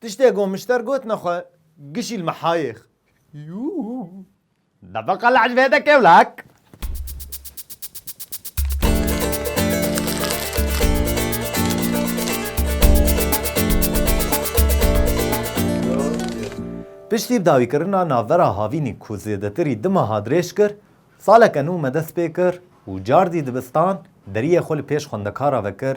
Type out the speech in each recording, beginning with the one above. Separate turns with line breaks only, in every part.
Tiştê ku mişter gotine xwe gişîl me hayêx. Debeqa li ecbê de kêwlek. Piştî dawîkirina navbera havînî ku zêdetirî di meha dirêj kir, saleke nû me dest pê kir û cardî dibistan deriyê xwe li pêş xwendekara ve kir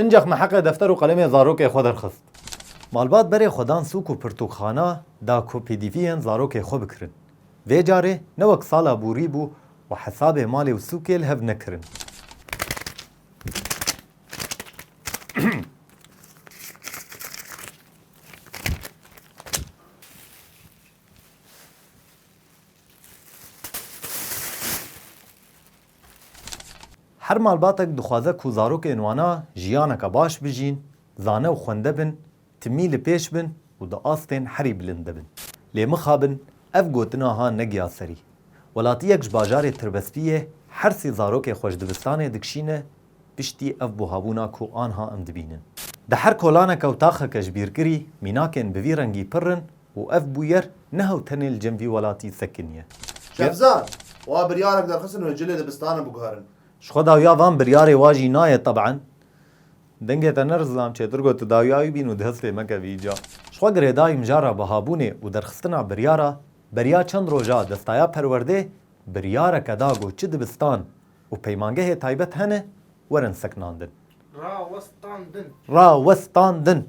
Incax me heqê defter û qelemê zarokê xwe derxist. Malbat berê xwe dan sûk û pirtûkxana da ku pdviyên zarokê xwe bikirin. Vê carê ne wek sala bûrî bû û hesabê malê û sûkê li hev nekirin. Her malbatek dixwaze ku zarokên wan a jiyaneke baş bijîn, zane û xwende bin, timî li pêş bin û di astên herî bilind de bin. Lê mixabin ev gotin aha negiya serî. Welatiyek ji bajarê Tirbespiyê her sê zarokê xwe ji dibistanê dikişîne piştî ev buhabûna ku anha em dibînin. Di her kolaneke û taxeke ji bîrkirî mînakên bi vî rengî pirr in Û ev bûyer neha û tenê li cem vî welatî sekiniye. Şevzad, Wa biryarek derxistin wê cilê dibistana biguherin. Ji xwe dawiya van biryarê wa jî nayê teb'an. Dengê te ne rizlam çêtir got tu dawiya wî bîn û dest pê meke vî îca. Ji xwe girêdayî mijara bihabûnê û derxistina biryara beriya çend roja destaya perwerdê biryareke da got çi dibistan û peymangehê taybet hene werin seknandin. Rawestandin. Rawestandin.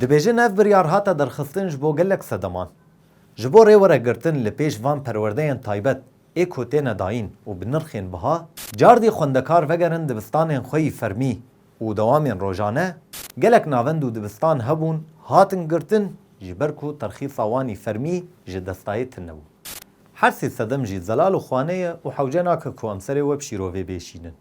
Dibêjin ev biryar hate derxistin ji bo gelek sedeman. Ji bo rêweregirtin li pêş van perwerdeyên taybet ê ku têne dayîn û bi nirxên biha, cardî xwendekar vegerin dibistanên xwe yî fermî û dewamên rojane, gelek navend û dibistan hebûn hatin girtin ji ber ku terxîsa wan yî fermî ji destayê til nebû. Her sê sedem jî zelal û xwaneye û hewce nake ku em serê we bi şîrovê bêşînin.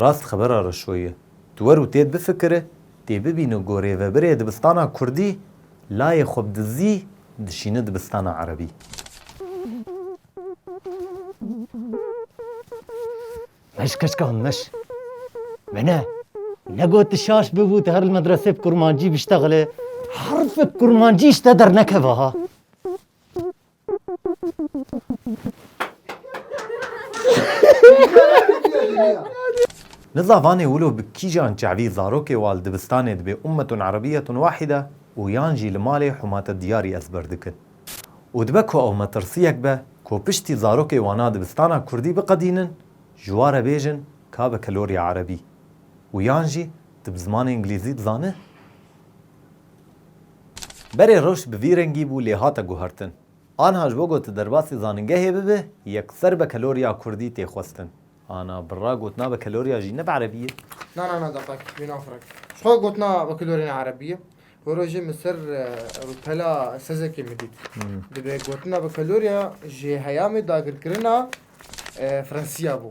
Rast xebera reşo ye. Tu wer û têd bifikire, tê bibîne ku rêvebirê dibistana kurdî layê xwe bi dizî dişîne dibistana erebî. Meş keçika min meş. Me ne ne got tu şaş bibû tu her li medresê bi kurmancî biştexile. Herfek kurmancî ji te dernekeve ha. Nizla vanê wilo bi kîjan çavî zarokê wal dibistanê dibê ummetun arabiyetun wahide û yan jî li malê humate diyarî ezber dikin. Û dibe ku ew metirsiyek be ku piştî zarokê wana dibistana kurdî biqedînin ji wa re bêjin ka bi kelorya erebî û yan jî di bi zimanê ingilîzî dizane? Berê rewş bi vî rengî bû lê hate guhertin. Anha ji bo ku tu derbasî zanîngehê bibî yekser be keloriya kurdî tê xwestin. Ana birra gotina be keloriya jî ne bi erebî ye? Na na na daqek wî nafirek. Ji xwe gotina be keloriya ne erebî ye. Wê rojê min ser rûtela sezekê min dît. Dibe gotina be keloriya ji heyamê dagirkirina Fransî ya bû.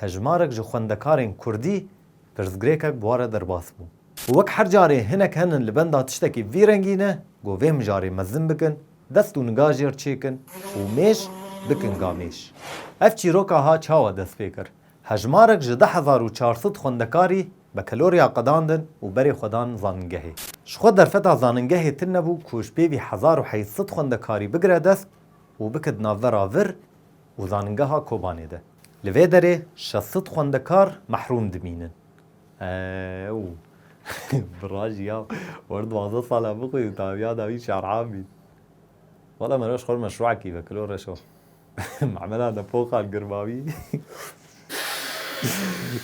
Hejmarek ji xwendekarên kurdî pirsgirêkek bi wan re derbas bû. Û wek her carê hinek henin li benda tiştekî vî rengî ne, got vê mijarê mezin bikin, dest û niga jê re çêkin û mêş bikin gamêş. Ev çîroka ha çawa dest pê kir? Hejmarek ji du hezar û çar sed xwendekarî bekeloriya qedandin û berê xwe dan zanîngehê. Ji xwe derfeta zanîngehê tune bû ku ji pêvî hezar û heyt sed xwendekarî bigire dest û bike di navbera vir, û Zanîngeha Kobanê de. Li vê derê şesit xwendekar mehrûm dimînin. Ew bi rajî ya war duwazdeh salan bixwînin tabiya dawî şer'an bîn. Wela me roj xwe meşru'ekî ve kilo reşo. Memela nepoxan girmawî.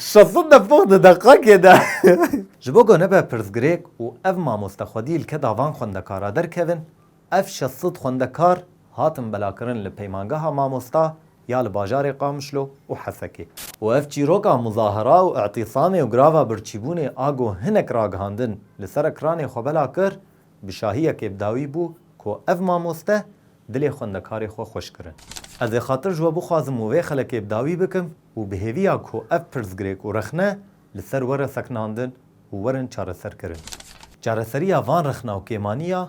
Şesit nepox di deqekê de. Ji bo ku nebe pirsgirêk û ev mamoste xwedî li ke davan xwendekara derkevin, Ev şeş sed xwendekar hatin belakirin li Peymangeha Mamosta ya li bajarê Qamişlo û Hesekê û ev çîroka muzahara û îtîsamê û grava birçîbûnê a ku hinek ragihandin li ser ekranê xwe bela kir, bi şahiyekê bi dawî bû ku ev mamoste dilê xwendekarê xwe xweş kirin. Ez ê xatir ji we bixwazim û vê xelekê bi dawî bikim û bi hêviya ku ev pirsgirêk û rexne li ser were sekinandin û werin çareserkirin. Çareseriya van rexna û kêmaniya